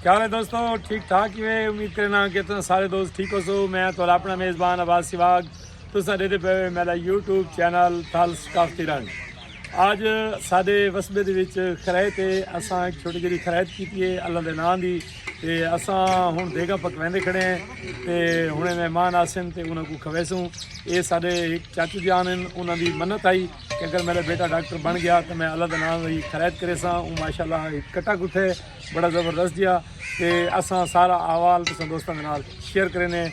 کیا حال ہے دوستو ٹھیک ٹھاک ہی ہے امید کرنا کہ تم سارے دوست ٹھیک ہو سو میں تو اپنا میزبان آباد سواگ تو سارے دے پہ میرا یوٹیوب چینل تھل سکافتی رنگ آج سارے وسبے دے وچ خرائط ہے اساں ایک چھوٹی جی خرائط کیتی ہے اللہ دے نام دی تے اساں ہن دیگا پکویندے کھڑے ہیں تے ہن مہمان آسن تے انہاں کو کھویسوں اے سارے ایک چاچو جان ہیں انہاں دی منت آئی کہ اگر میرا بیٹا ڈاکٹر بن گیا تو میں اللہ دے نام دی خرید کرے ساں اون ماشاءاللہ کٹا کتے بڑا زبردست جیا تے اساں سارا احوال تساں دوستاں دے نال شیئر کرینے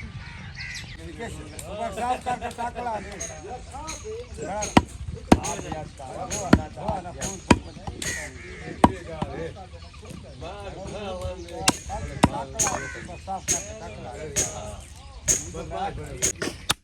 Thank you.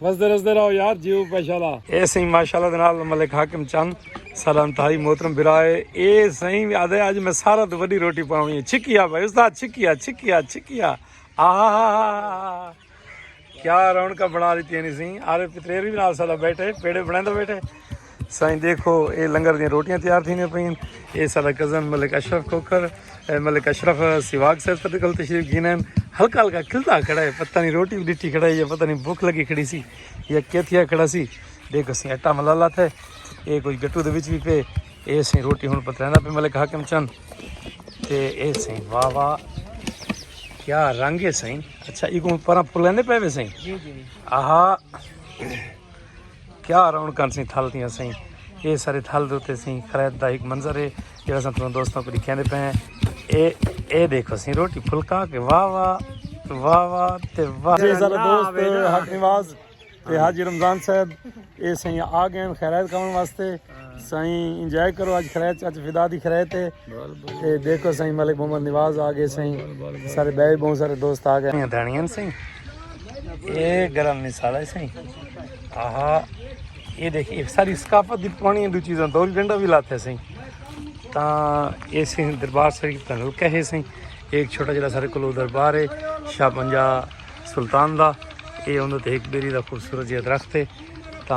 وسدے رسدے رہو یار جیو ماشاءاللہ اے سہی ماشاءاللہ دے نال ملک حاکم چند سلام تھائی محترم برائے اے سہی ادے اج میں سارا تو وڈی روٹی پاوی ہے چھکیا بھائی استاد چھکیا چھکیا چھکیا آہا کیا رونکا بنا دیتی ہے نہیں سہی آرے پتریری نال سالا بیٹھے پیڑے بنائیں تو بیٹھے سائیں دیکھو اے لنگر دیاں روٹیاں تیار تھینے پئین اے سارا کزن ملک اشرف کھوکھر ملک اشرف سواگ سر تھے کل تشریف گھینے ہلکا ہلکا کھلتا کھڑا ہے پتہ نہیں روٹی بھی ڈٹھی کھڑا ہے یا پتہ نہیں بھوک لگی کھڑی سی یا کیا تھیا کھڑا سی دیکھو سی اٹا ملالا تھے اے کوئی گٹو دے وچ بھی پے اے سی روٹی ہن پترانا پہ ملک حاکم چن تے اے سی واہ واہ کیا رنگ ہے سی اچھا ایکوں پرا پھلنے پے وے سی جی جی آہا کیا رونقاں سیں تھل تیاں سیں یہ سارے تھل دوتے سیں خرید دا ایک منظر ہے جڑا سن تساں دوستوں کو دکھیندے پے ہیں اے اے دیکھو سیں روٹی پھلکا کے واہ واہ واہ واہ تے واہ جی سارے دوست حق نواز تے حاجی رمضان صاحب اے سیں آ گئے خیرات کھاون واسطے سائیں انجوائے کرو اج خریت اج فدا دی خریت ہے تے دیکھو سائیں ملک محمد نواز آ گئے سائیں سارے بے بہت سارے دوست آ گئے دھنیاں سائیں اے گرم مثال ہے سائیں آہا اے دیکھ اے ساری ثقافت دی پرانی دو چیزاں دور گنڈا بھی لاتے ہیں سائیں تا اے سائیں دربار شریف دا حلقہ ہے سائیں ایک چھوٹا جڑا سارے کلو دربار ہے شاہ پنجا سلطان دا اے اندر تے ایک بیری دا خوبصورت جہاں درخت ہے تا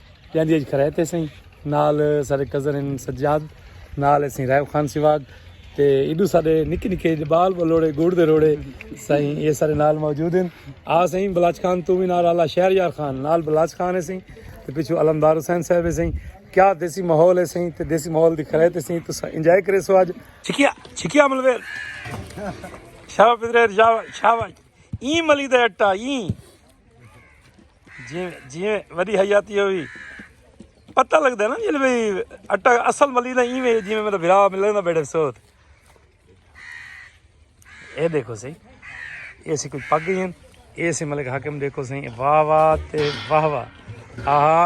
جاندی اج کھرے تے سیں نال سارے کزن ان سجاد نال سیں رائے خان سیواگ تے ایڈو سارے نکی نکی بال بلوڑے گوڑ دے روڑے سیں یہ سارے نال موجود ہیں آ سیں بلاچ خان تو بھی نال اللہ شہر یار خان نال بلاچ خان ہے سیں تے پیچھو علمدار حسین صاحب ہے سیں کیا دیسی ماحول ہے سیں تے دیسی ماحول دی کھرے تے سیں تو انجوائے کرے سو اج چھکیا چھکیا ملویر شاباش پترے شاباش شاباش این ملی دا اٹا این جی جی وڈی حیاتی ہوئی پتہ لگتا ہے نا جی بھائی اٹا اصل ملی نہ ایویں جی میرا بھرا ملے نہ بیٹھے سوت اے دیکھو سی اے سی کوئی پگ گئی اے سی ملک حاکم دیکھو سی واہ واہ تے واہ واہ آہا